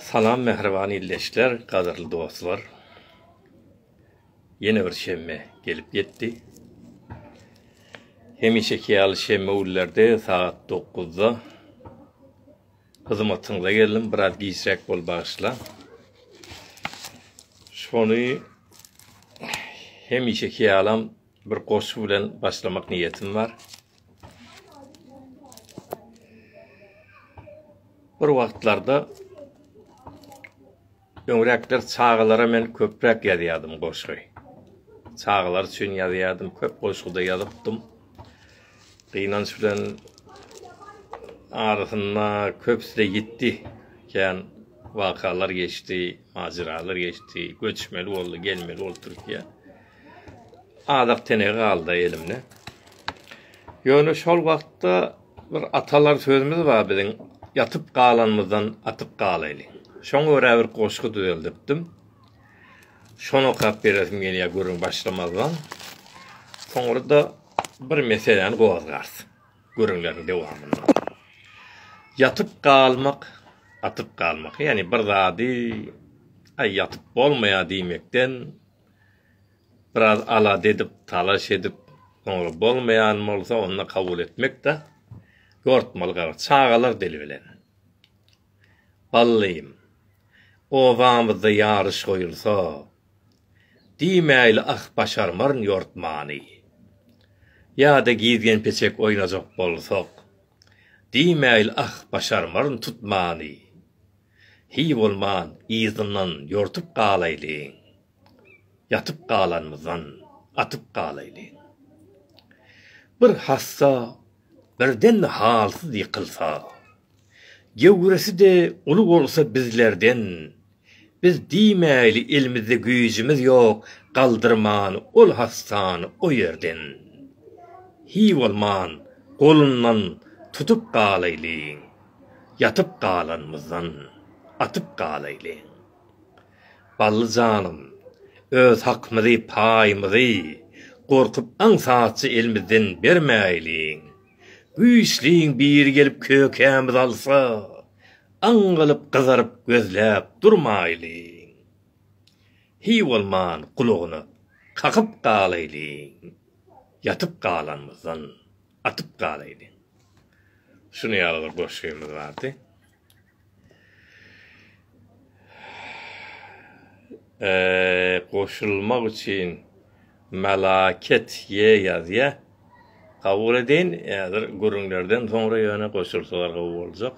Salam mähriban ildeşler, gadyrly dostlar. Ýene bir şemme gelip ýetdi. Hemişeki ýaly şemme günlerde sagat 9-da hyzmatyňyza geldim, biraz giçräk bol bagyşla. Şony hemişeki ýalam Bir goşgy bilen başlamak niýetim bar. Bir wagtlarda öňräkler çagalara men köpräk ýazýardym goşgy. Çagalar üçin ýazýardym, köp goşguda ýazypdym. Gynanç bilen arasynda köpüsi ýitdi. Kän wakalar geçdi, majyralar geçdi, göçmeli boldy, gelmeli boldy Türkiýä. Azak tenegi galdy elimde. Ýöne şol wagtda bir atalar sözümiz bar biziň, ýatyp galanymyzdan atyp galaýly. Şoňa görä bir goşgy düzeldipdim. Şony okap beresim gelýär gürrüň başlamazdan. Soňra-da bir meseläni gozgars gürrüňleriň dowamynda. Ýatyp galmak, atyp galmak, ýagny bir zady, Aý, ýatyp bolmaýar diýmekden, biraz alada edip, talaş edip, soňra bolmaýan bolsa, onda kabul etmek-de ýortmaly gara çagalar dili bilen. Ballym, obamyzda ýaryş goýulsa, diýmäýli ah başarmaryn ýortmany. Ýa-da gizgen-peçek oýnajak bolsak, diýmäýli ah başarmaryn tutmany. Hiý bolman yzyndan ýortup galaýlyň, Ýatyp galanymyzdan atyp galaýlyň. Bir hassa birden halsyz ýykylsa, Gewresi-de uly bolsa bizlerden, Biz diýmäýli elimizde güýjümiz ýok Galdyrman ol hassany o ýerden. Hiý bolman golundan tutup galaýlyň, Ýatyp galanymyzdan atyp galaýlyň. Bally janym, öz hakymyzy, paýymyzy gorkup aňsatja elimizden bermäýliň. Güýçliň biri gelip kökämizi alsa, aňňalyp gyzaryp gözläp durmaýlyň. Hiý bolman gulagyna kakyp galaýlyň. Ýatyp galanymyzdan. atyp galaýdy. Şuny ýaly bir goşgymyz bardy. Eee, goşulmak üçin melaket ýe ýazýa. Kabul edin, häzir gürrüňlerden soňra ýöne goşulsalar gowy boljak.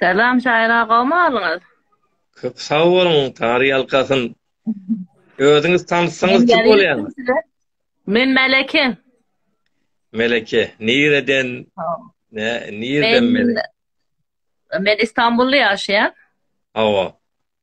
Salam şaýyr agam alyňyz. Köp sag boluň Tary ýalkasyn. Özüňiz tanyssaňyz kim bolýaň? Men Meleke. Meleke, nireden? Ne, nireden Meleke? Men Istanbulda ýaşaýan. Hawa.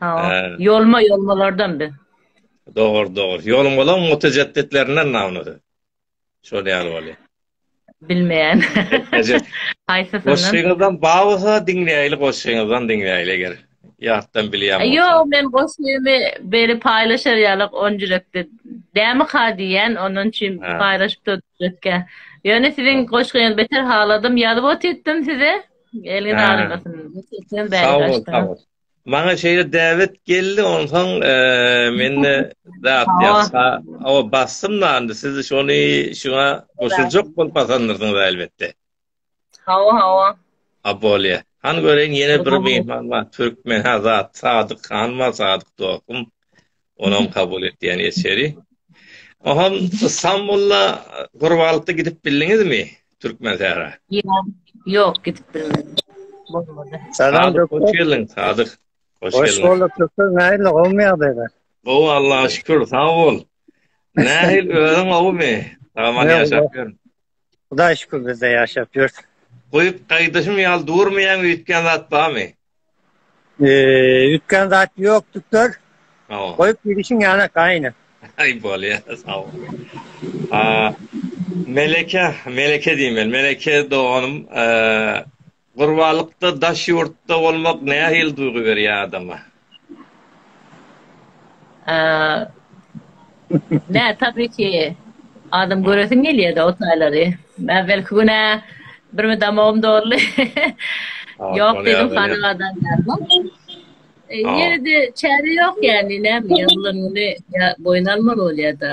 Hawa. Ýolma ýolmalardan bi. Dogry, dogry. Ýoluň bolan mutejedditlerinden namnady. Şol ýaly bolýar. Bilmeýän. Haýsy syn? Goşgyňyzdan bawysa diňleýli, goşgyňyzdan diňleýli eger. Ýatdan bilýän. Ýok, men goşgymy beri paýlaşar ýaly on ýürekde. Dämi ka diýen, ondan üçin paýlaşyp durduk. Ýöne siziň goşgyňyzy beter haladym, ýazyp otyrtdym size. Gelin arasyn. Sen bäri başdan. Maňa şeýle däwet geldi, onsoň e, mende zat ýa o basym nandy. Siz şony şuňa goşuljak bolup basandyrsyňyz elbetde. Hawa, hawa. Abolýa. Han göreýin ýene bir mehman bar, türkmen Hazat Sadyk han bar, Sadyk dostum. Onam kabul et diýen eseri. Ohan Istanbulda Gurbalypda gidip bildiňizmi? Türkmen sähra. Ýok, gidip bilmedim. Bolmady. Salam doktor. Hoş geldiň, Sadyk. Hoş geldiň. Hoş bulduk doktor. Nähili gowmy ýagdaýlar? Gowy Allaha şükür, sag bol. Nähil özüň gowumy? Aman ýaşap ýör. Hudaý şükür bizde ýaşap ýörs. Goýup gaýdyşym ýaly durmaýaň üýtgän zat barmy? Üýtgän zat ýok düktor. Goýup gidişiň ýanak aýna. Aý bolýa sag bol. Meleke, Meleke diýmeli. Meleke doganym Gurbalykda daş ýurtda bolmak nähili duýgy berýär adama? Nä tabii ki adam göresiň gelýärde o taýlary. Äwelki gün ä bir müdamogym doldy. Ýok dedim hanadadan geldim. Ýeride çäre ýok ýani näme ýa boýun almaly bolýada.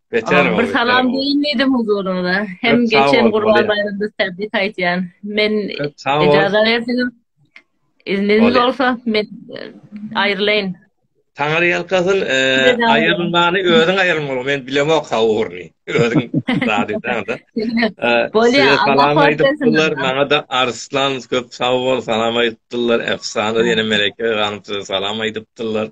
Beter boldy. Bir salam diýin diýdim huzuryňyza. Hem geçen Gurban baýramda täbrik aýtýan. Men ejazat berseňiz, izniňiz bolsa men aýrylaýyn. Taňar ýalkasyn, aýrylmany özüň aýrylmaly, men bilemok ha ugruny. Özüň zady daňda. Bolýa, salam aýdypdylar, maňa da Arslan köp sag bol, salam aýdypdylar. Efsana ýene Meleke ganym size salam aýdypdylar.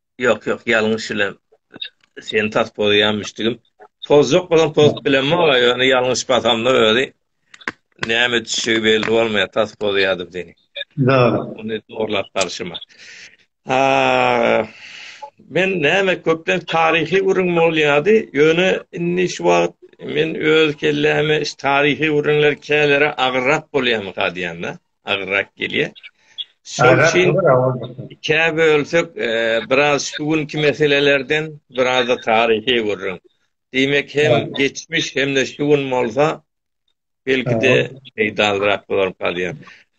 Ýok, ýok, ýalňyş bilen seni tas pozaýamyşdygym. Pozjak bolan poz bilen mi ola, ýöne ýalňyş basamda özi näme düşegi belli bolmaýar, tas pozaýadym seni. Da. Ony zorlap barşyma. Ha, men näme köpden taryhy gürrüň bolýady, ýöne indi şu wagt men öz kelläme iş taryhy gürrüňler kälere agyrrak bolýamy gadýanda. agyrak gelýär. Şol üçin ikä bölsek, biraz şu günki meselelerden, biraz-da taryhy gürrüň. Diýmek, hem geçmiş, hem-de şu gün bolsa, belki-de peýdalyrak bolar galýar.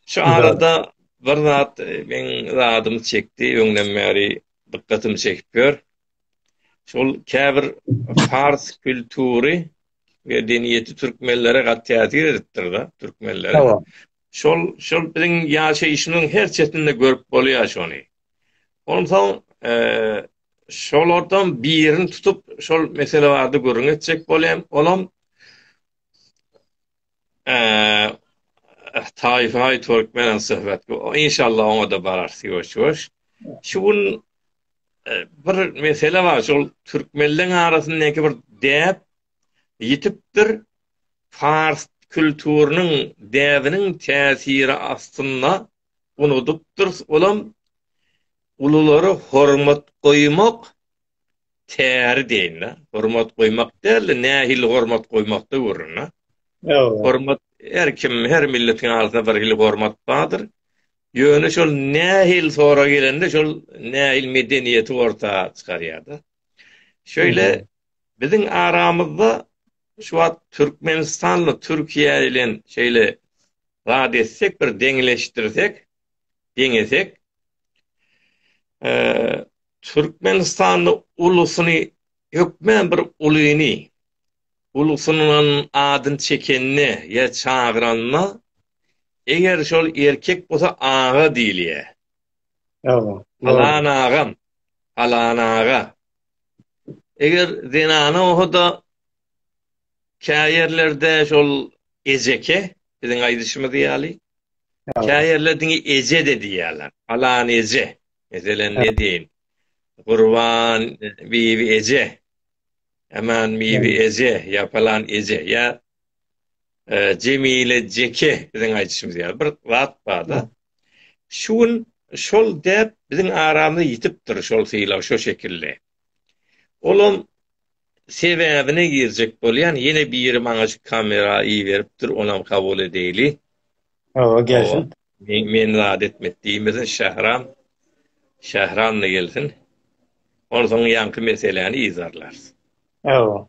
Şu arada bir zat meň zadymy çekdi, öňden bäri dykgatymy çekip ýör. Şol käbir pars kültury medeniýeti türkmenlere gat täsir edipdir-de, türkmenlere. Tamam. Şol, şol biziň ýaşaýşymyzyň her çetinde görüp bolýar şony. Onsoň, e, şolardan birini tutup, şol mesele barada gürrüň etjek bolýan. Olam Eee Taýfay Türkmenen söhbet. Inşallah oňa da bararys ýuwaş-ýuwaş. Şu gün e, bir mesele bar. Şol türkmenleň arasyndaky bir däp ýitipdir. Fars kültüriniň däbiniň täsiri astynda unudypdyr. Olam ululara hormat goýmak Käri deýin-le, hormat goýmak däl-de, nähili hormat goýmakda görün-le. Hormat her kim, her milletiň alsa bir hili hormat bardyr. Ýöne şol nähili sorag gelende şol nähili medeniýeti orta çykarýar-da. Şeýle biziň aramyzda şu wagt Türkmenistanly Türkiýe bilen şeýle zat etsek, bir deňleşdirsek, deňesek, Türkmenistanda ulusyny hökmän bir ulyny, ulusynyň adyny çekende ýa çagyranda, eger şol erkek bolsa aga diýilýär. Palan agam, palan aga. Eger zenana bolsa-da käýerlerde şol ejeke biziň aýdyşymyz ýaly käýerler diňe eje de diýýärler alan eje meselen ne diýin gurban bibi eje aman bibi eje ýapalan eje ýa e, jemile jeke biziň aýdyşymyz ýaly bir zat barda şu gün şol dep biziň aramyzda ýitipdir şol sylag şo şekilli Olam sebäbine girjek bolýan ýene biri maňa şu kamera iberipdir onam kabul edeýli. Hawa gelsin. Men men zat etmek diýmesin Şähram. Şähram da gelsin. Onsoň ýaňky meseläni yzarlarys. Hawa.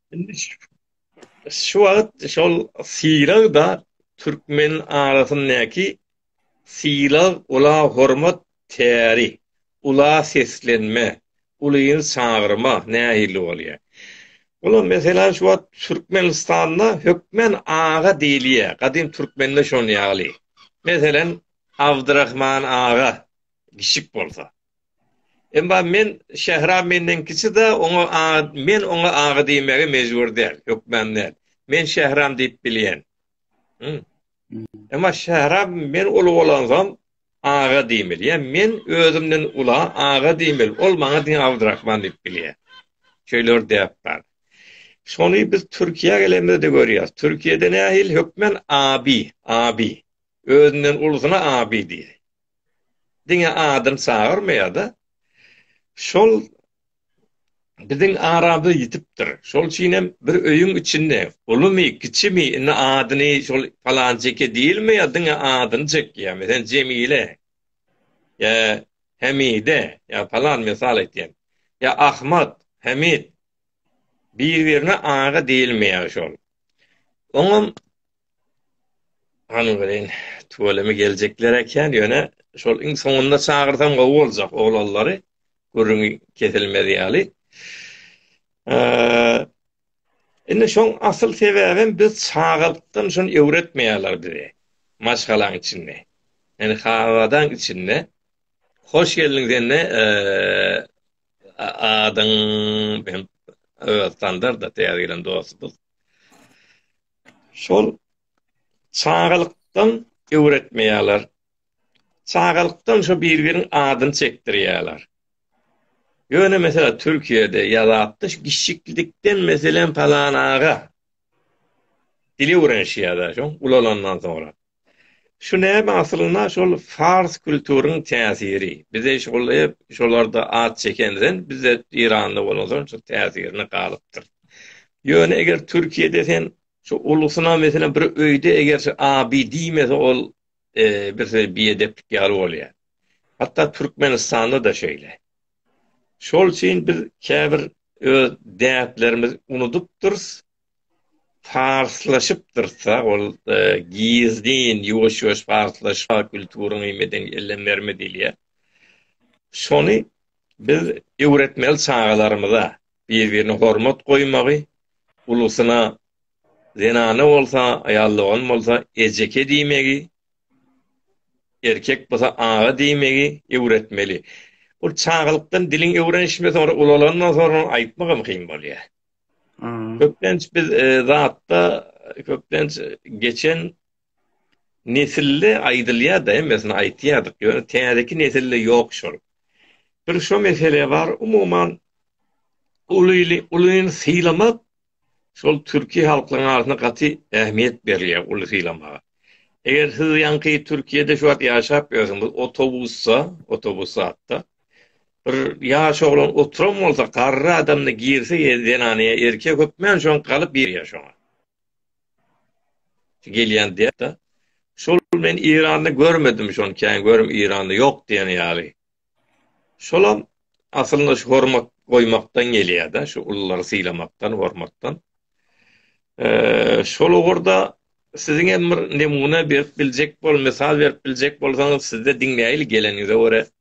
Şu wagt şol sylag-da türkmen arasyndaky sylag, ula hormat, täri, ula seslenme, ulyny çagyrma nähili bolýar? Olam, meselem, şu wagt Türkmenistanda hökmän aga diýilýär. Gadym türkmende şonuň ýaly. Meselem, Abdyrahman aga, kişik bolsa. Emma men Şähram menden kiçi-de, oňa aga, men oňa aga diýmäge mejbur däl, hökman däl. Men Şähram diýip bilýän. Hmm. Emma Şähram men uly bolansoň aga diýmeli. Ýa men özümden ula aga diýmeli. Ol maňa diňe Abdurrahman diýip bilýär. Şeýler däp bar. Şony biz Türkiýä gelemizde görýäs. Türkiýede nähili hökmen abi, abi. Özünden ulusyna abi diýýär. diňe adyny çagyrmaýar-da. Şol biziň arada ýitipdir. Şol üçin hem bir öýüň içinde ulumy, kiçimi, indi adyny şol palanjyky diýilmeýär, diňe adyny çekýär. Meselem, Jemile, ýa Hemide, ýa palan, mysal aýtýan. Ýa Ahmad, Hemid. Bir-birine aga diýilmeýär şol. Oňam Hany welin, tüweleme geljekler ekän, ýöne şol iň soňunda çagyrsam gowy boljak oglallary, gürrüňi kesilmez ýaly. Indi şoň asyl sebäbem biz çagalykdan şuny öwretmeýärler bize. Maşgalaň içinde. Ýani habadan içinde. Hoş geldiň sende adyň hem Öztandarda täze gelen dostumyz. Şol çagalykdan öwretmeýärler. Çagalykdan şo bir-biriň adyny çekdirýärler. Ýöne meselem Türkiýede ýazatda şu giçiklikden meselem palan aga dil öwrenişýärler şoň ulalandan soňra. Şu näme aslynda şol fars külturyň täsiri. Bize şol hep şolarda at çekenden bizde Eýranda bolan soň şu täsirine galypdyr. Ýöne eger Türkiýede sen şu ulusyna meselem bir öýde eger şu abi diýmese ol bir söz biedeplik ýaly bolýar. Hatda Türkmenistanda da şeýle. Şol üçin biz käbir öz däplerimizi unudypdyrys. Parslaşypdyrsa, ol gizlin, ýuwaş-ýuwaş parslaşýar, kulturyňy, medeniýetiňi ellem berme diýilýär. Şony biz öwretmeli çagalarymyza, bir-birine hormat goýmagy, ulusyna zenana bolsa, aýal dogan bolsa ejeke diýmegi, erkek bolsa aga diýmegi öwretmeli. Ol çagalykdan diliň öwrenişmese, soňra ulalandan soňra aýtmagam kyn bolýar. Köplenç biz zatda köplenç geçen nesille aýdylýar da, hemmesini aýtýardyk. Ýöne täzeki nesille ýok şol. Bir şu mesele bar, umuman ulyly ulyny sylamak şol türki halklaryň arasynda gaty ähmiýet berilýär uly sylamaga. Eger siz ýaňky Türkiýede şu wagt ýaşap ýörsiňiz, otobusda, otobus zatda Bir ýaş oglan oturan bolsa, garry adam-da girse zenanyýa, erkek hökmän şoň galyp girýär şoňa. Gelýän diýýär-de. Şol men Iranda görmedim şony, kän görüm Iranda ýok diýen ýaly. Şolam aslynda şu hormat goýmakdan gelýär-de, şu ululary sylamakdan, hormatdan. Şol ugurda siziň hem bir nemuna berip biljek bol, mysal berip biljek bolsaňyz, sizde diňläýli geleniňize görä.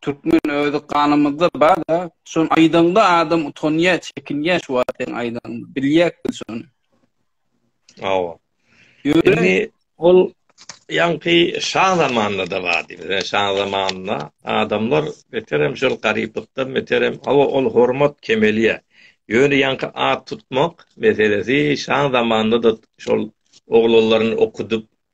Türkmen özi ganymyzda barda şony aýdaňda adam utanýa çekinýä şu wagt seň aýdaňda bilýäk biz şony. Hawa. Ýöne ol ýaňky şa zamanynda bardy. Bize şa zamanynda adamlar beterem şol garyplykdan beterem hawa ol hormat kemelýä. Ýöne ýaňky at tutmak meselesi şa zamanynda-da şol oglanlaryny okudyp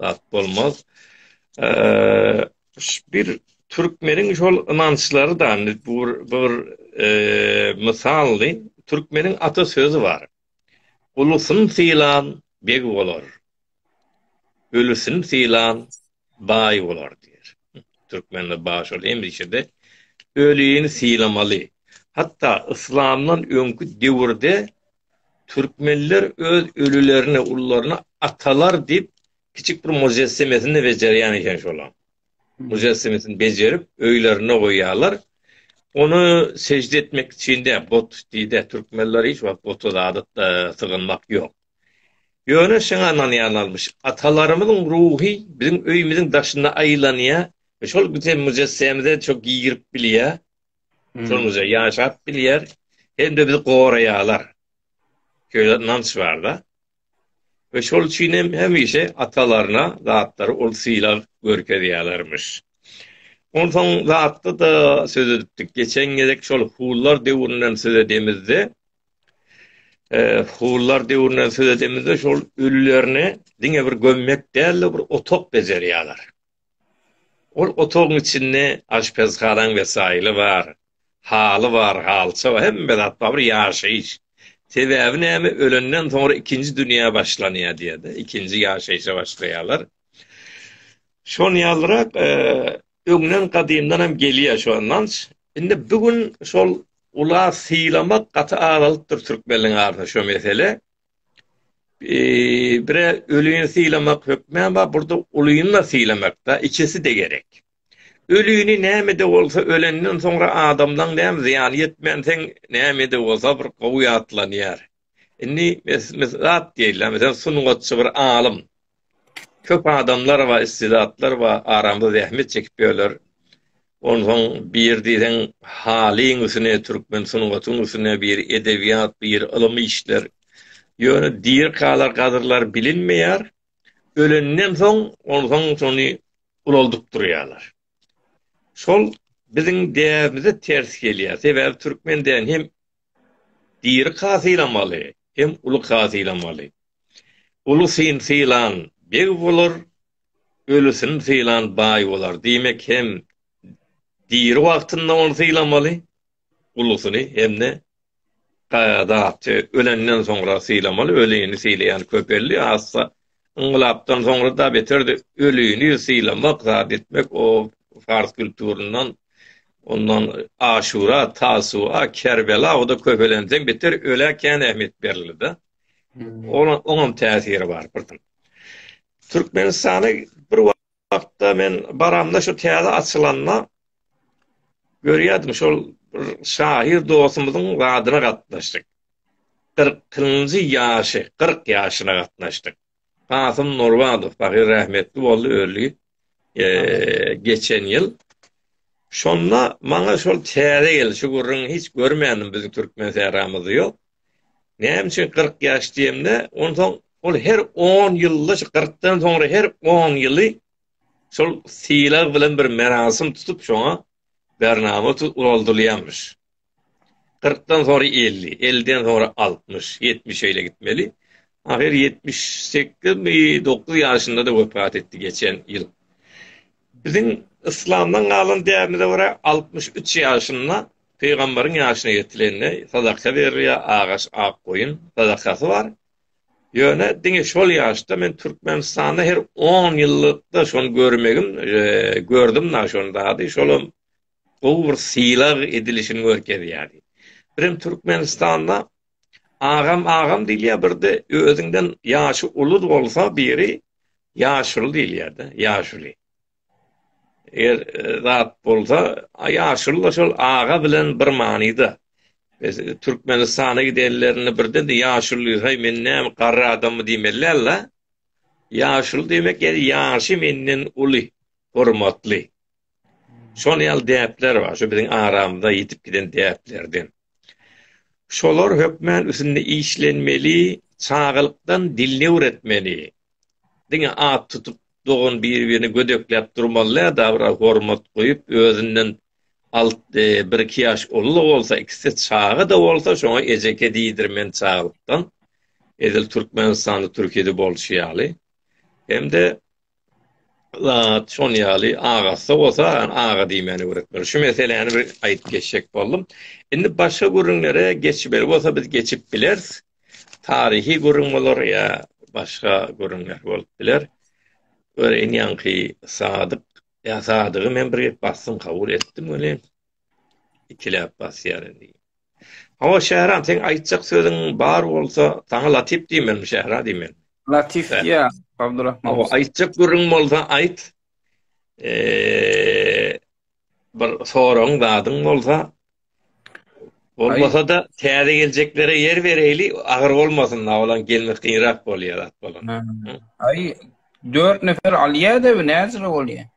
zat bolmaz. Bir türkmeniň şol ynançlary da bu bir mysaldy. Türkmeniň ata sözi bar. Ulusyn sylan beg bolar. Ölüsin sylan baý bolar diýer. Türkmende bar şol hemişe-de ölini sylamaly. Hatda yslamdan öňki döwürde Türkmenler öz ölülerini, ullaryny atalar diýip, kiçik bir mujessemesini bejerýän eken şolam. Mujessemesini bejerip, öýlerinde goýýarlar. Ony sežde etmek üçin-de, bot diýdi, türkmenler hiç wagt bota zady e, sygynmak ýok. Ýöne şoňa ynanýarlarmyş. Atalarymyzyň ruhy biziň öýümiziň daşynda aýlanýar. Şol bize mujessemize şo girip bilýär. Türkmenimize ýaşap bilýär, hem-de bizi goraýarlar. Şeýle ynanç bar-da. We şol üçin hem hemişe atalaryna zatlary ol sylag görkezýärlermiş. Onsoň zatda-da söz edipdik. Geçen gezek şol hunlar döwründen söz edemizde, hunlar döwründen söz edemizde şol ölülerini diňe bir gömmek däl-de bir otag bejerýärler. Ol otagyň içinde aşpezhanaň wesaýly bar, haly bar, halça bar, hemme zat bar, bir ýaşaýyş. Sebäbi näme, ölenden soňra ikinji dünýä başlanýar diýýär-de, ikinji ýaşaýşa başlaýarlar. Şon ýalyrak öňden gadymdan hem gelýär şu ynanç. Indi bu gün şol ula sylamak gaty azalypdyr türkmenleriň arasynda şu mesele. e, bire ölüni sylamak hökmän bar, burada ulyny da sylamak da, ikisi de gerek. Ölüni näme de bolsa ölenden soňra adamdan näme zyýan ýetmän sen näme de bolsa bir gowy ýatlanýar. Indi mes mesat diýilýär, mesel sungatçy bir alym. köp adamlar bar, istidatlar bar, aramda zähmet çekip ýörler. Onsoň bir diýseň halyň üstüne, türkmen sungatyň üstüne bir edebiýat, bir ylym işler. Ýöne dirkalar, gadyrlar bilinmeýär. Ölenden soň, onsoň şony ulaldyp durýarlar. Şol biziň däbimize ters gelýär. Sebäbi türkmen däni hem Diri ka sylamaly hem uly ka sylamaly. Uly syn sylan beg bolar, öli syn sylan baý bolar. Diýmek hem diri wagtynda ony sylamaly, ulusyny hem-de ka zatdy ölenden soňra sylamaly. Ölini sylaýan köpeldi, azsa yňlapdan soňra da beterdi ölini sylamak zat etmek o fars kulturyndan ondan aşura tasua kerbela o da köpelenseň beter öle kän ähmiýet berildi da hmm. oňam täsiri bar birden türkmenistany bir Wagtda men baramda şu täze açylanda görýärdim şol bir şahyr dostumyzyň zadyna gatnaşdyk. Kyrkynjy ýaşy, kyrk ýaşyna gatnaşdyk. Kasym Nurbadow pahyr rahmetli boldy öli geçen ýyl. Şonda maňa şol täze geldi şu gürrüňi hiç görmändim biziň türkmen sähramyzda ýok. Näme üçin kyrk ýaş diýemde, onsoň ol her on ýylda, şu kyrkdan soňra her on ýyly şol sylag bilen bir merasim tutup, şoňa bernama ugraldylýarmyş. Kyrkdan soňra elli, elliden soňra altmyş, ýetmiş şeýle gitmeli. Ahyr ýetmiş sekizmi, dokuz ýaşynda-da wepat etdi geçen ýyl. Biziň yslamdan galan däbimize görä, altmyş üç ýaşynda Pygamberiň ýaşyna ýetilende sadaka berilýär, agaç, ak goýun sadakasy bar. Ýöne diňe şol ýaşda men Türkmenistanda her on ýyllykda şony görmegim, e, gördüm da şony dady, şolam gowy bir sylag edilişini görkezýärdi. Birem Türkmenistanda agam agam diýilýär, birde özüňden ýaşy uly bolsa biri ýaşuly diýilýärdi, ýaşuly. Eger zat bolsa, ýaşuly-da şol aga bilen bir manyda. Biz Türkmenistana gidenlerinde birden-de ýaşuly, Heý, men näme, garry adammy diýmeli däl-de. Ýaşuly diýmek, ýa-da ýaşy menden uly, hormatly. Şol ýaly däpler bar, şu biziň aramyza ýitip giden däplerden. Şolar hökmän üsünde işlenmeli, çagalykdan dilini öwretmeli. Diňe at tutup, dogan bir-birini gödekläp durmaly-da, dabara hormat goýup, özünden alt, bir-iki ýaş uly-da bolsa, ikisi çaga-da bolsa, şoňa ejeke diýdirmeli çagalykdan, edil Türkmenistanda, Türkiýede bolşy ýaly. Hem-de. zat şon ýaly agasy bolsa aga diýmäni öwretmeli. Şu meseläni bir aýdyp geçjek boldum. Indi başga gürrüňlere geçmeli bolsa biz geçip bileris. Taryhy gürrüň bolar ýa başga gürrüňler bolup biler. Göreýin ýaňky Sadyk ýa Sadygy men bir gep bassym kabul etdim welin. ikiläp basýar indi. Hawa, Şähran, seň aýtjak sözüň bar bolsa, saňa Latif diýmelmi, Şähra diýmelmi? Latif diýä, Abdurrahman. Hawa, aýtjak gürrüň bolsa, aýt. Eee, bir soragyň zadyň bolsa, bolmasa-da, täze geljeklere ýer bereýli, agyr bolmasyn, awalan gelmek gynrak bolýar, at bolan. Aý, dört nefer Aliýedewi näzire bolýar?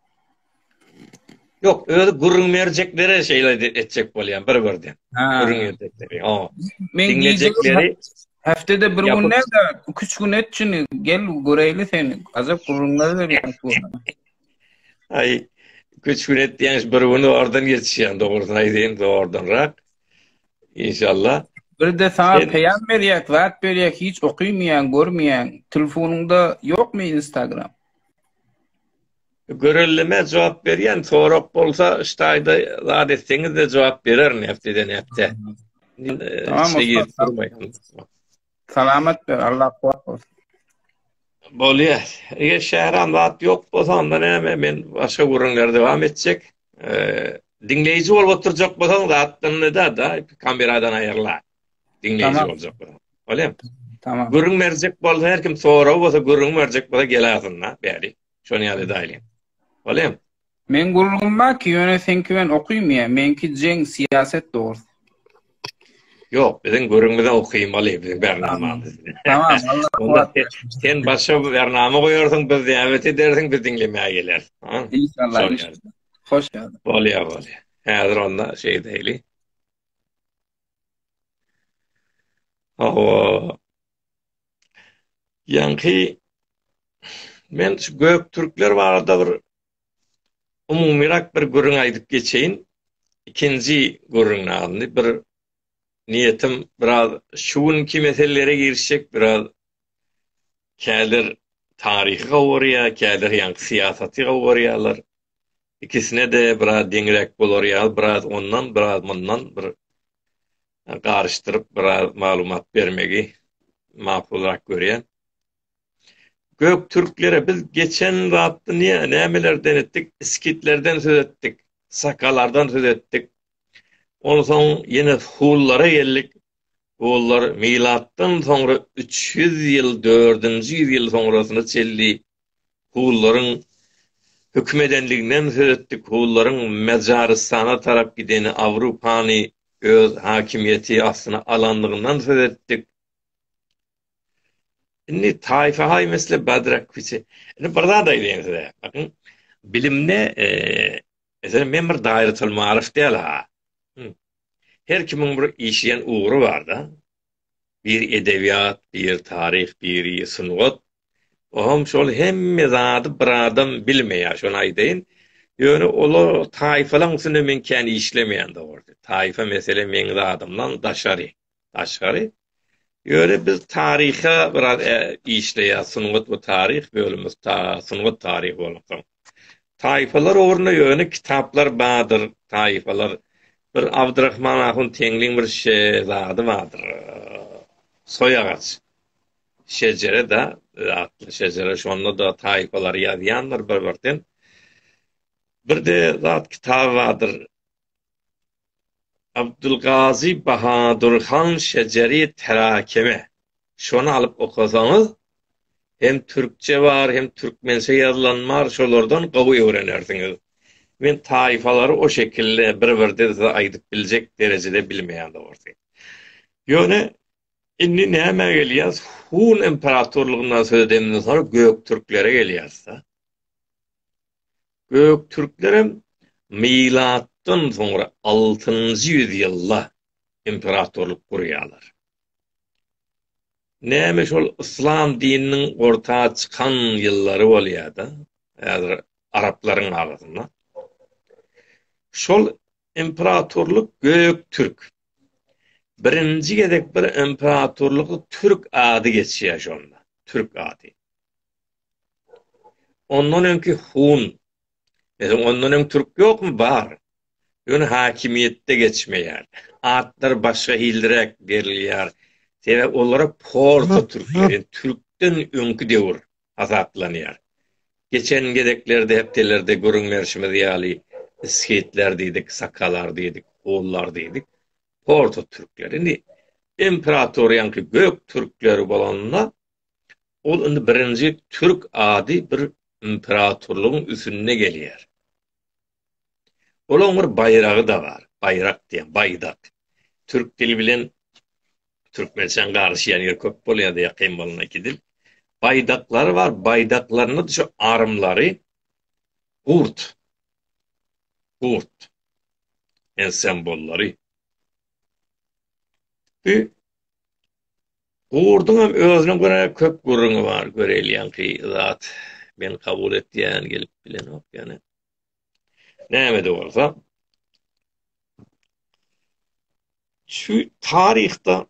Ýok, özi gürrüň berjeklere şeýle etjek bolýan bir birden. Gürrüň berjekleri. O. Men diňlejekleri hepdede bir gün näde, 2-3 gün etjini gel göreýli seni. Azap gürrüňler berýän şu. Ay, 2-3 gün etýän bir gün oradan geçýän dogrusyny aýdaýyn oradanrak. İnşallah. Bir de sana Sen... peyam berýek, zat berýek, hiç okymaýan, görmeýän. Telefonyňda ýokmy Instagram? Görelleme jogap berýän sorag bolsa ştaýda zat etseňizde jogap bererin hepdeden hepde. Salamat ber Allah kuwat bolsun. Bolýa. Eger şäram zat ýok bolsa onda näme men başga gürrüňleri dowam etjek. Diňleýji bolup oturjak bolsaň zatdan da da kameradan aýyrla. Diňleýji boljak bolsaň. Bolýa. Tamam. Gürrüň berjek bolsa her kim sorag bolsa gürrüň berjek bolsa gelersin da bäri. Şony ýaly edaýliň. Bolem. Men gurulgym bar ki ýöne seňki bilen okymaýa meňki jeň syýaset dogry. Ýok biziň görüňize okymaly biziň bernamamyz. Tamam Allah kuwat bersin. Sen başga bir bernama goýarsyň biz däwet edersiň biz diňlemäge geler. Inşallah. Hoş geldiň. Bolýa bolýa. Häzir onda şeý diýeli. Awa. Ýaňky men şu göktürkler barada bir umumyrak bir gürrüň aýdyp geçeýin. Ikinji gürrüň alyndy. Bir niýetim biraz şu günki meselelere girişjek, biraz käler taryhy gowurýar, käler ýaňky syýasaty gowurýarlar. Ikisine-de biraz deňräk bolar ýaly, biraz ondan, biraz mundan bir garyşdyryp biraz maglumat bermegi makulrak görýän. Gök türklere biz geçen zatda niye nämelerden etdik? Iskitlerden söz etdik, sakalardan söz etdik. Onsoň ýene hullara geldik. Hullar milatdan soňra 300 ýyl, 4-nji ýüz ýyl soňrasyna çenli Hullaryň höküm edenliginden söz etdik. Hullaryň Majarystana tarap gideni, Awrupany öz hakimiýeti astyna alanlygyndan söz etdik. Indi taýfa haý mesele badrak küçe. Indi bir zat aýdaýyn size. Bakyň, bilimde e, Mesela men bir daýrytyl marif däl ha. Her kimiň bir işleýän ugry barda. biri edebiýat, biri taryh, biri sungat. Olam şol hemme zady bir adam bilmeýär, şony aýdaýyn. Ýöne olar taýfalaryň üstünde men kän işlemeýän dogrusu. Taýfa mesele meň zadymdan daşary, daşgary. Ýöne biz taryha biraz işleýäs, sungat we taryh bölümimiz sungat taryhy bolansoň. Taýfalar ugrunda ýöne kitaplar bardyr, taýfalar. Bir Abdyrahman ahun Teňliň bir şe zady bardyr. Soýagaç. Şejere-de, atly şejere, şonda-da taýfalary ýazýandyr bir-birden. Bir-de zat kitaby bardyr. Abdylgazy Bahadur han Şejeri Terakeme. Şony alyp okasaňyz, hem türkçe bar, hem türkmençe ýazylan bar, şolardan gowy öwrenersiňiz. Men taýfalary o şekilde bir-birden size aýdyp biljek derejede bilmeýän dogrusy. Ýöne indi nämä gelýäs, Hun imperatorlygyndan söz edemden soň göktürklere gelýäs-de. Göktürklerem milatdan soňra altynjy ýüzýylda imperatorlyk gurýarlar. Näme şol yslam dininiň orta çykan ýyllary bolýar-da, häzir araplaryň arasynda. Şol imperatorlyk Göktürk. Birinji gezek bir imperatorlygy türk ady geçýär şonda, türk ady. Ondan öňki hun, meselem, ondan öň türk ýokmy? Bar. Ýöne häkimiýetde geçmeýär. Atlar başga hilliräk berilýär. Sebäbi olara porsa türkler, ýa türkden öňki döwür hasaplanýar. Geçen gezeklerde, hepdelerde gürrüň berşimiz ýaly, skitler diýdik, sakalar diýdik, hunlar diýdik. Porsa türkler. Indi imperatoriýaňky gök türkleri bolanda, Ol indi birinji türk ady bir imperatorlygyň üsünde gelýär. Olaň bir baýragy-da bar. Baýrak diýen, baýdak. Türk dili bilen türkmençäň garyşýan ýeri köp bolýar-da ýakyn bolan iki dil. Baýdaklary bar, baýdaklarynda şu armlary gurt. Gurt. En sembollary. Bu Gurduňam özüne görä köp gürrüňi bar göreýilýänki zat men kabul etýän gelip bilenok ýöne nämede bolsa şu taryhda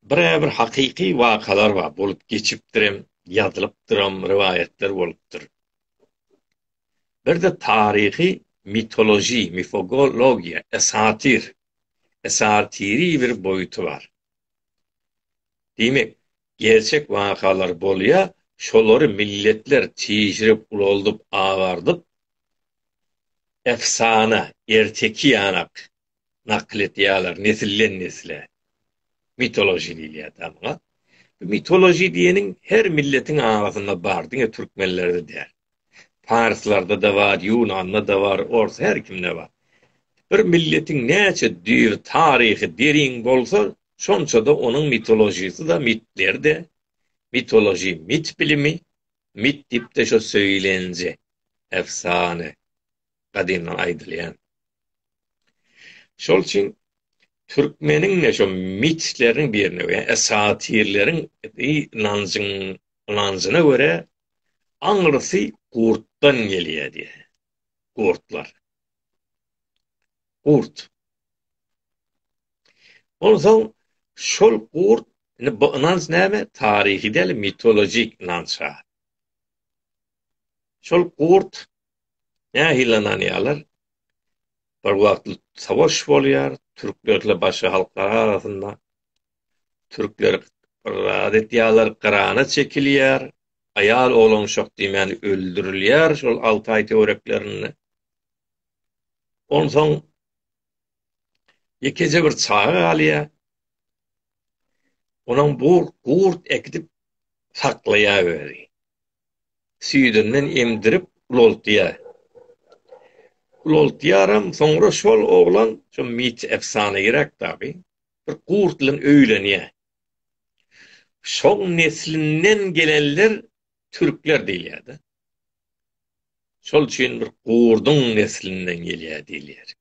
birä bir hakyky wakalar bar bolup geçipdirem ýazylypdyram riwaýatlar bolupdyr bir-de taryhy mitologiýa mifogologiýa esatir esatiri bir boýuty bar. Diýmek, gerçek wakalar bolýa, şolary milletler çişirip, ulaldyp, agardyp, efsana, erteki ýanak nakyl etýäler nesilden-nesle. Mitoloji diýilýär da muňa. Mitoloji diýeniň her milletiň arasynda bar, diňe türkmenlerde däl. Parslarda-da bar, Ýunanda-da bar, ors her kimde bar. Bir milletiň näçe düýr taryhy derin bolsa, şonça-da onuň mitolojisy-da, mitleri-de, mitoloji, mit bilimi, mit diýip-de şo söýlenje, efsane, gadymdan aýdylýan. Şol üçin türkmeniň-de şo mitleriniň birine we esatirleriň ynanjyň ynanjyna görä aňrysy gurtdan gelýär diýär. Gurtlar. Gurt. Onsoň şol gurt Indi bu ynanç näme? Taryhy däl, mitologik ynanç. Şol gurt Nähili ynanýarlar? Bir wagt savaş bolýar, türklerle başga halklar arasynda. Türkler bir zat etýärler, Gyrana çekilýär, aýal, oglan, uşak diýmän öldürilýär şol Altaý töwereklerinde. Onsoň Ýekeje bir çaga galýar. Onuň bu gurt ekidip saklaýar özi. Süýdünden emdirip ulaltýar. Ulaltýaram, soňra şol oglan, şu mit efsana gerek tabi, bir gurt bilen öýlenýär. Şoň neslinden gelenler türkler diýilýär-de. Şol üçin bir gurduň neslinden gelýär diýilýär.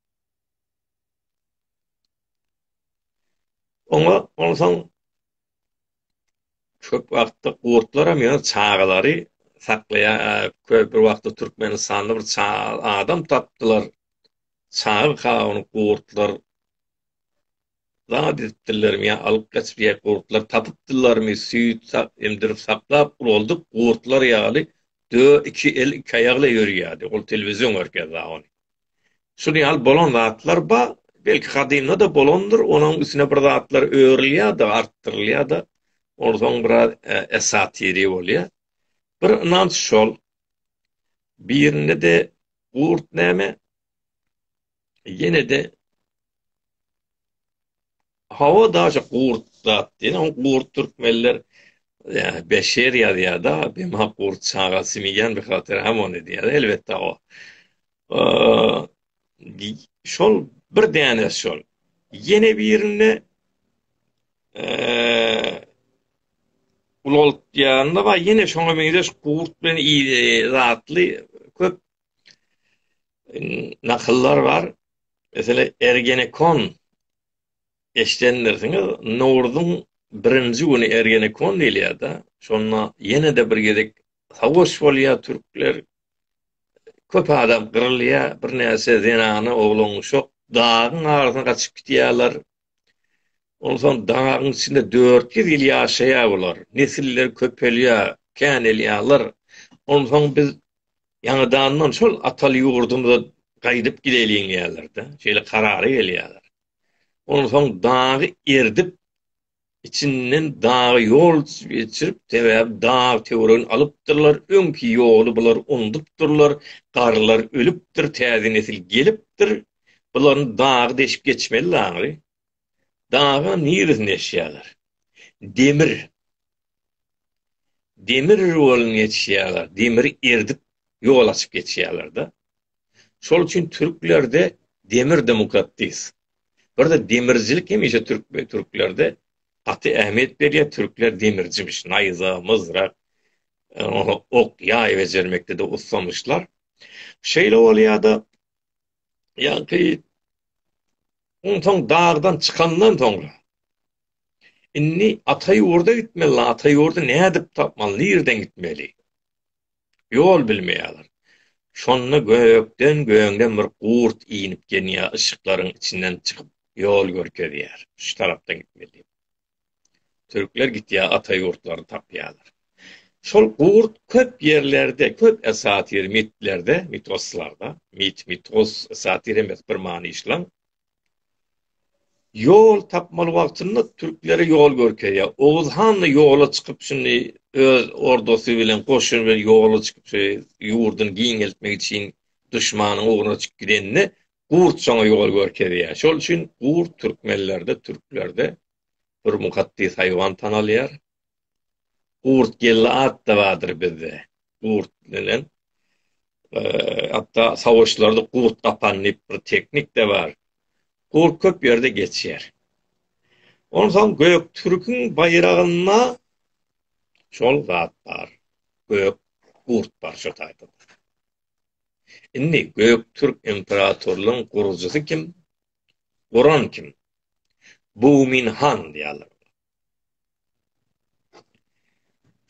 Oňa onsoň köp wagtda gurtlar hem ýöne çagalary saklaýar. Köp bir wagtda Türkmenistanda bir adam tapdylar. Çaga kawuny gurtlar zat edipdirlermi ýa alyp gaçyp ýa gurtlar tapypdyrlarmy süýt sak emdirip saklap ulaldyk gurtlar ýaly dö iki el iki aýakla ýörýärdi ol telewizion görkezýä ony şul ýaly bolan zatlar ba belki gadymda da bolandyr onuň üstüne bir zatlar örülýä da artdyrylýa da onsoň biraz esatiri bolýa bir ynanç şol birinde de gurt näme ýene-de hawa daşy gurt zat diýen o gurt türkmenler ýa beşer ýazýarda bema gurt çaga simiýan bir hatyr hem ony diýýär elbetde o şol bir däne şol ýene birinde ulolt ýanynda bar ýene şoňa meňzeş gurt bilen zatly köp nakyllar bar. Meselem, Ergenekon eşidendirsiňiz. Nowruzyň birinji güni Ergenekon diýilýär-de. Şonda ýene-de bir gezek savaş bolýar, türkler köp adam gyrylýar, birnäçe zenany, oglan-uşak dagyň arasyna gaçyp gidýärler. Onsoň dagyň içinde dört ýüz ýyl ýaşaýar bular. Nesiller köpelýär, känelýärler. Onsoň biz ýaňadandan şol ataly ýurdumyza gaýdyp gideýliň diýýärler-de. Şeýle karara gelýärler. Onsoň dagy erdip, içinden dagy ýol geçirip, sebäbi dag töweregini alypdyrlar, öňki ýoly bular unudupdyrlar, garrylar ölüpdir, täze nesil gelipdir, bularyň dagy deşip geçmeli daňry. Dagyň niresinde ýaşaýarlar? Demir. Demir ýolundan geçýärler, demiri erdip ýol açyp geçýärler-de. Şol üçin türklerde demir de mukaddis. Birde demircilik hemişe türk we türklerde gaty ähmiýet berýär. Türkler demircimiş, naýza, myzrak, ok, ýaý bejermekde-de ussamyşlar. Şeýle bolýar-da, ýa-ki onsoň dagdan çykandan soňra indi ata ýurda gitmeli, ata ýurdy nädip tapmaly, nirden gitmeli? Ýol bilmeýärler. Şonda gökden göňden bir gurt inip genýär, yşyklaryň içinden çykyp ýol görkezýär, şu tarapdan gitme diýip. Türkler gitýär ata ýurtlaryny tapýarlar. Şol gurt köp ýerlerde, köp esatyr mitlerde, mitoslarda, mit, mitos, esatyr hem bir many işläň, Ýol tapmaly wagtynda türklere ýol görkezýär. Oguz han-da ýola çykyp şindi öz ordasy bilen, goşuny bilen ýola çykyp şeý ýurduny giňeltmek üçin duşmanyň ugruna çykyp gidende gurt şoňa ýol görkezýär. Şol üçin gurt türkmenlerde, türklerde bir mukaddys haýwan tanalýar. Gurt geldi atda bardyr bizde. Gurt bilen hatda sawuşlarda gurt gapan diýip bir teknik de bar. Gurt köp ýerde geçýär. Onsoň gök türküň baýragynda şol zat bar. Gök gurt bar şu taýda. Indi gök türk imperatorlygyň gurujysy kim? Guran kim? Bumin han diýýärler.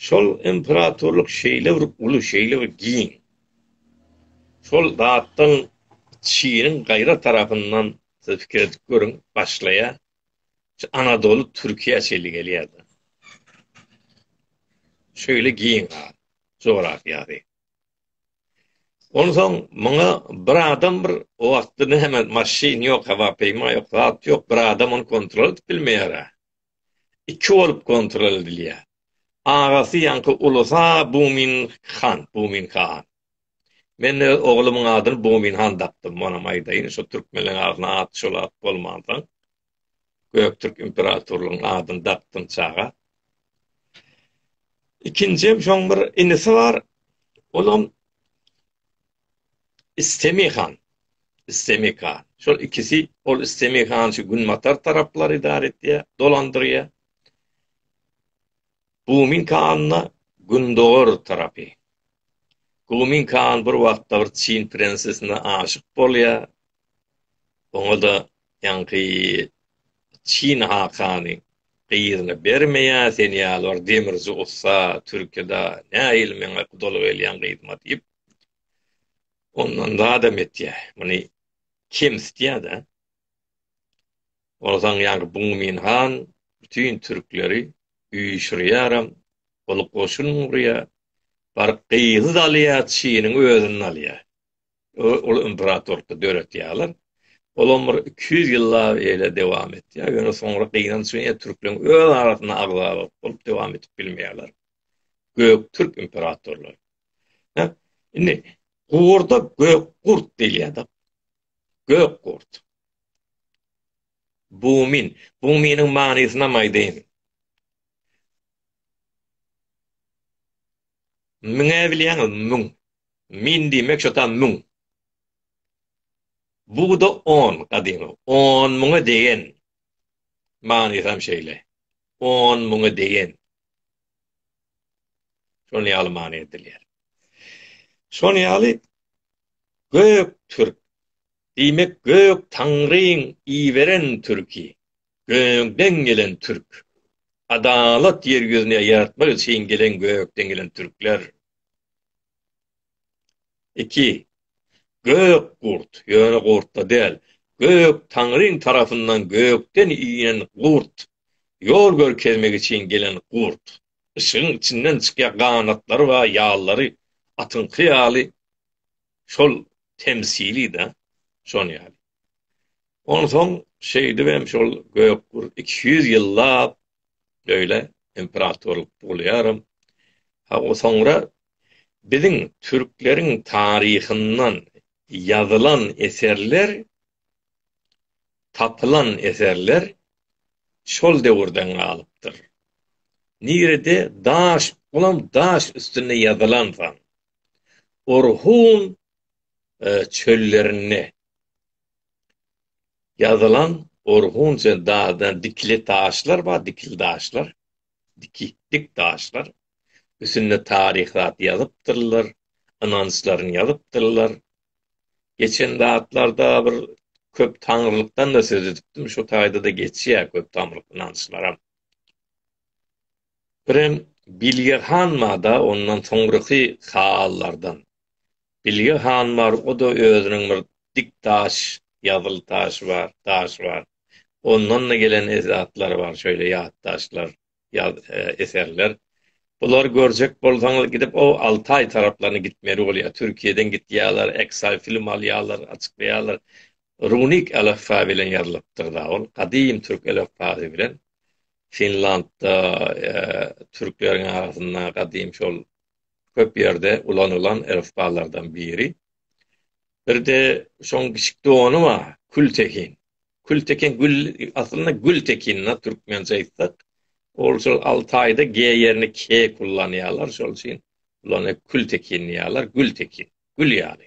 Şol imperatorlyk şeýle bir uly, şeýle bir giň. Şol zatdan Çiniň gaýra tarapyndan siz pikir edip görüň, başlaýar. Şu Anadoly Türkiýä çenli gelýär-de. Şeýle giň zat, jografiýasy. Onsoň muňa bir adam bir o wagtda näme maşyn ýok, hawapeýma ýok, zat ýok, bir adam ony kontrol edip bilmeýär-ä. Iki bolup kontrol edilýär. Agasy ýaňky ulusa Bumin han, Bumin han. Men öz oglumyň adyny Bumin han dakdym, onam aýdaýyn, şo türkmenleriň arasynda at şol at bolmansoň, Göktürk imperatorlygynyň adyny dakdym çaga. Ikinjem şoň bir inisi bar. Olam Istemi han. Istemi han. Şol ikisi ol Istemi han şu günbatar taraplary idar etýär, dolandyrýar. Gumin kanna gündogar tarapy. Gumin kan bir wagtda bir Çin prensesine aşyk bolýar. Oňa-da Ýaňky Çin hakany gyzyny bermeýä sen ýaly bir demirji ussa türkida nähili meňe gudalyk elýäň gyzyma diýip ondan zadam etýä muny kemsitýädä onsaň ýaňky Bungmin han bütin türkleri üýşürýäram ol goşun gurýa baryp gyzy alýa Çiniň özüni alýa. Ol imperatorlyk döretýärler. Olam bir iki ýüz ýyllap eýle dewam etýär. Ýöne soňra gynanç bilen türkleriň öz arasynda agzalalyk bolup dewam edip bilmeýärler. Göktürk imperatorlary. Hä? Indi gurda gökgurt diýilýär-de. Gökgurt. Bumin. Buminiň manysyny hem aýdaýyn. Müňe bilýäňiz, müň. Min diýmek şotam müň. Bugda on, gadymy, on müňe degen. Manysam şeýle. On müňe degen. Şol ýaly many edilýär. Şol ýaly gök türk. Diýmek gök taňryň iberen türki. Gökden gelen türk. Adalat ýer ýüzüne ýaratmak üçin gelen gökden gelen türkler. Iki. Gök gurt, ýöne gurt-da däl, Gök Taňryň tarapyndan gökden inen gurt, ýol görkezmek üçin gelen gurt. Yşygyň içinden çykýar, ganatlary bar, ýallary atyňky ýaly, şol temsili-dä, şon ýaly. Onsoň şeýdibem şol Gökgurt iki ýüz ýyllap öýle imperatorlyk bolýaram. Ha o soňra biziň türkleriň taryhyndan ýazylan eserler, tapylan eserler şol döwürden galypdyr. Nirede daş, olam daş üstünde ýazylansoň, Orhun çöllerinde ýazylan orhunça daşdan dikili taşlar bar, dikili daşlar, diki, dik daşlar. Üstünde taryh zat ýazypdyrlar, ynançlaryny ýazypdyrlar. Geçen zatlarda bir köp taňrylykdan-da söz edipdim, şu taýda-da geçýär köp tamryk ynançlaram. Birem Bilge han bar-da, ondan soňraky hallardan, Bilge han bar, o-da özüniň bir dik daş, ýazyl taşy bar, daş bar. Ondan-da gelen zatlary bar, şeýle ýatdaşlar, ýaz, eserler. Bulary görjek bolsaňyz, gidip o Altaý taraplaryna gitmeli bolýar. Türkiýeden gidýärler, Excel film alýarlar, açyklaýarlar. Runik älifba bilen ýazylypdyr-da ol, gadym türk älifbasy bilen. Finlandda türkleriň arasynda gadym şol köp ýerde ulanylan elifbalardan biri. Bir-de şoň kiçik dogany bar, kültekin. Kültekin gül, aslynda gültekin na türkmençe aýtsak. Ol şol Altaýda G ýerini K kullanýarlar, şol üçin bular kültekin diýýärler, gültekin. gül ýaly.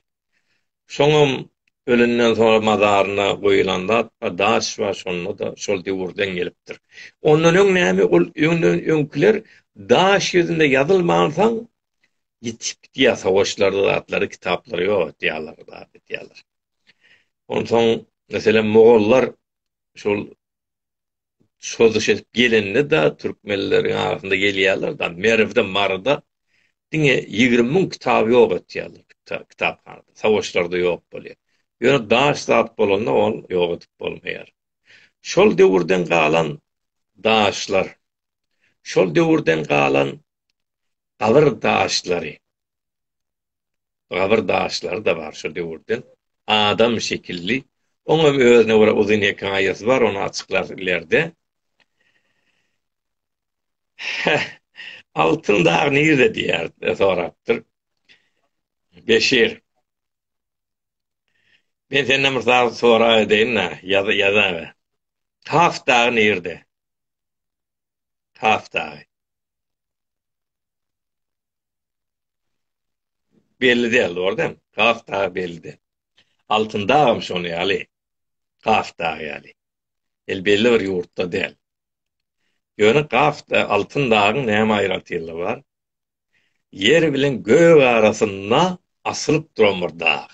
Şoňam ölenden soňra mazaryna goýulan zat bar, daş bar, şonda-da şol döwürden gelipdir. Ondan öň näme, ol öňden öňkiler daş ýüzünde ýazylmansoň, ýitip gidýär, sowaşlarda zatlary, kitaplary ýok edýärler, zat edýärler. Onsoň, meselem, mogollar şol çozuş edip gelende da türkmenleriň arasynda gelýärler da Merwde Maryda diňe ýigrimi müň kitaby ýok etýärler kitaphanada sowaşlarda ýok bolýar ýöne daş zat bolanda ol ýok edip bolmaýar şol döwürden galan daşlar şol döwürden galan gabyr daşlary gabyr daşlary-da bar şo döwürden. Adam şekilli. Oňam özüne görä uzyn hekaýasy bar, ony açyklarys ilerde. Altyn dag nirede diýýär, sorapdyr. Beşir. Men senden bir zat soraý edeýin-le, ýaza ýazaga. Kaf dagy nirede? Kaf dagy. Belli däl, dogry däl. Kaf dagy belli däl. Altyn dagam şonuň ýaly. Kaf dagy ýaly. El belli bir ýurtda däl. Ýöne Kaf da, Altyn dagyň näme aýratynlygy bar? Ýer bilen gök arasynda asylyp duran bir dag.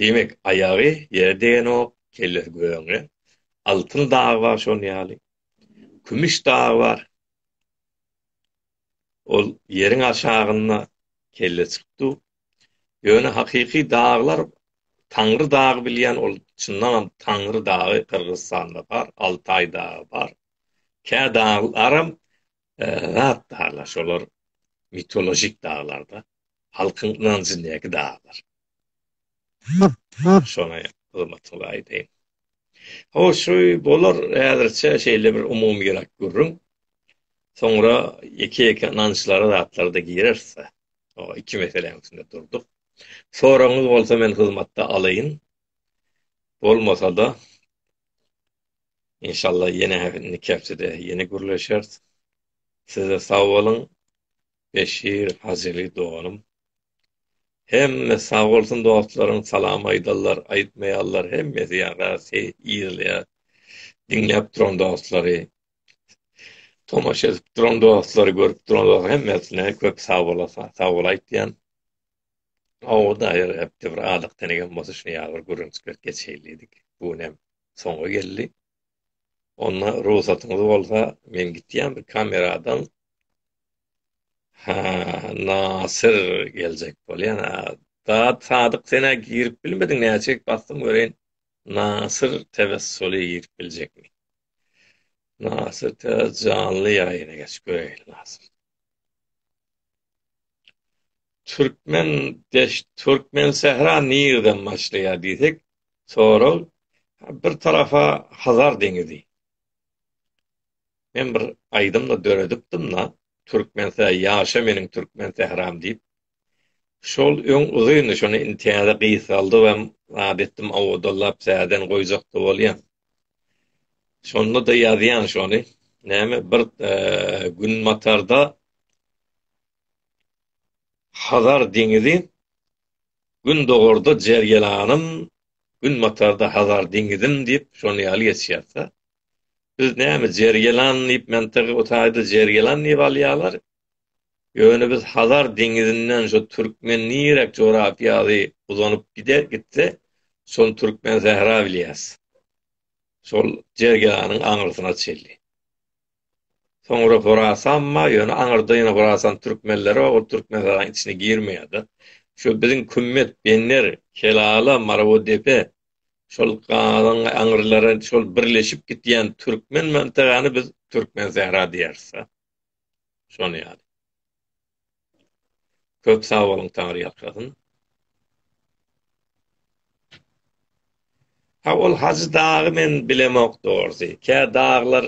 Diýmek, aýagy ýere degenok, kellesi gögüňde. Altyn dagy bar şonuň ýaly. Kümüş dagy bar. Ol ýeriň aşagynda kelle çykyp dur. Ýöne hakyky daglar Taňry dagy bilýän ol çyndanam Taňry dagy Gyrgyzystanda bar, Altaý dagy bar. Kä daglaram zat daglar şolar mitolojik daglarda. halkyň ynanjyndäki daglar. Şony hyzmatyňyza aýdaýyn. Hoş, bolar häzirçe şeýle bir umumyrak gürrüň. Soňra ýeke-ýeke ynançlara zatlarda gireris-de. O iki meseläň üstünde durduk. Soragyňyz bolsa men hyzmatda alaýyn. Bolmasa-da, inşallah ýene indiki hepdede ýene gürleşeris. Siz-de sag boluň. Beşir Hazyly doganym. Hemme sag bolsun dostlaryň salam aýdallar aýtmaýallar hemmesi ýarasy ýylaýar diňläp duran dostlary tomaşa edip duran dostlary görüp duran hemmesine köp sag bolasa sag bol aýtýan Awda her hepde bir adak tenegem bolsa şuny ýaly bir gürrüňçilik geçeýlidik bu hem soňa geldi. Onda rugsatyňyz bolsa men gitýän bir kameradan Ha, Nasir geljek bolýan. Da Sadyk senä girip bilmediň näçelik basdym göreýin. Nasir Tewessuli girip biljekmi? Nasir te janly ýaýyna geç göreýin Nasir. Türkmen deş Türkmen sähra nirden başlaýar diýsek, Sorag, Bir tarapa Hazar deňizi. Men bir aýdym-da döredipdim-da, Türkmense ýaşa meniň türkmen sähram diýip. Şol öň uzyndy, şony indi täze gysgaldyp hem zat etdim, owadallap täzeden goýjak-da bolýan. Şonda-da ýazýan şony. Näme, bir günbatarda Hazar deňizi, Gündogarda Jerýelanym, günbatarda Hazar deňizim diýip, şony ýaly geçýär-de. Biz näme, Jerýelan diýip, mentegy o taýda Jerýelan diýip alýarlar. Ýöne biz Hazar deňizinden şu türkmen nirek jorapiýady uzanyp gider, gitse, şony türkmen sähra bilýäs. Şol Jerýelanyň aňyrsyna çenli. Soňra Horasanma, ýöne aňyrda ýene Horasan türkmenleri bar, ol Türkmenistanyň içine girmeýärdi. Şu biziň Kümmet, Bener, Kelala, Marawodepe, şol galyň aňyrlary şol birleşip gitýän türkmen mantygany biz Türkmensähra diýeris-de. Şony ýaly. Köp sag boluň Tangry ýalkasyn. Ha ol Hajy dagy men bilemok dogrsy. Kä daglar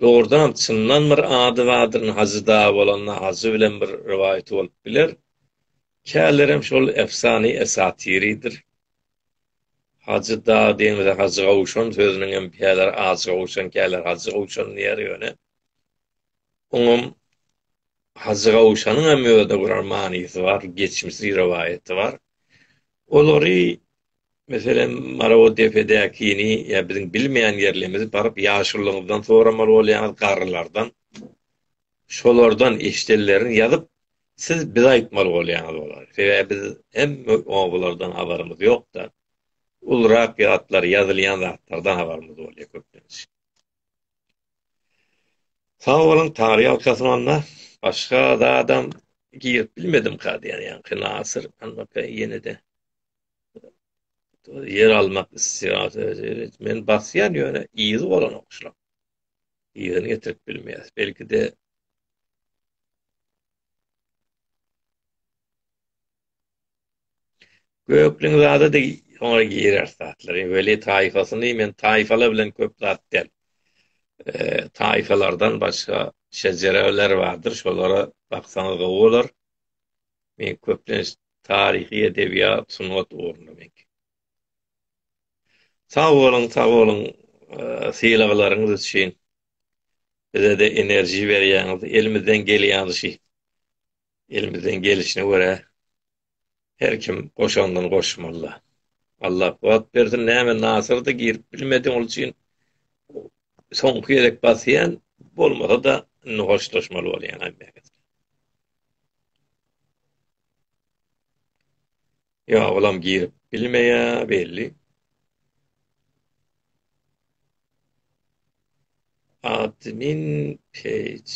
dogrudanam çyndan bir ady bardyryn Hajy dagy bolanda Hajy bilen bir rowaýaty bolup biler. Kälerem şol efsany esatyrydyr. Hajy dag diýmese Hajy gowşan sözüniňem käler Ajy gowşan käler Hajy gowşan diýer ýöne. Oňam Hajy Gawşanyň hem özüne gören manysy bar, geçmişi, rowaýaty bar. Olary, meselem, Marawatdepedäkini ýa biziň bilmeýän ýerlerimizi baryp ýaşulyňyzdan soramaly bolýaňyz, garrylardan. Şolardan eşidenlerini ýazyp, siz bize aýtmaly bolýaňyz olary. Sebäbi biz hem obalardan habarymyz ýok-da. Ulurak ýatlar, ýazylýan zatlardan habarymyz bolýar köplenç. Sag boluň Tary ýalkasyn onda. Başga zadam girip bilmedim ka diýen ýaňky Nasyr anbaka ýenede ýer almak isleýär men basýan ýöne yzy bolanok şular yzyny getirip bilmeýär belkide Gökleň zadydy oňa girer zatlary weli taýfasyny men taýfala bilen köp zat del. Taýfalardan başga şejereler bardyr şolara baksaňyz gowy bolar. Men köplenç taryhy edebiýat sungat ugrunda men. Sag boluň sag boluň sylaglaryňyz üçin bizede enerji berýäňiz elimizden gelýänşi Elimizden gelişine görä her kim goşandyny goşmaly. Allah kuwat bersin näme nasyrdy girip bilmedi ol üçin soňky gezek basýan bolmasa da indi hoşlaşmaly bolýan aýtmaýan. Ýa olam girip bilmeýä belli. Admin page.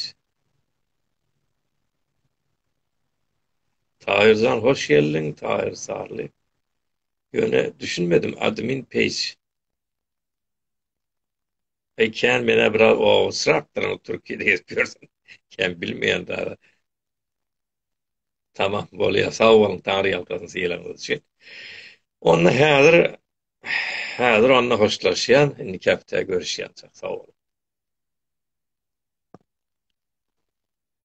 Taýyrjan hoş geldiň, Taýyr Sarly. Ýöne düşünmedim admin page. Ey kän menä biraz owasyrakdyr, türkiýede gezip ýörsün. Kän bilmeýän dara. Tamam, bolýar. Sag boluň, Taňry ýalkasyn sylagyňyz üçin. Onda häzir häzir onda hoşlaşýan, indiki hepdä görüşýänçak. Sag boluň.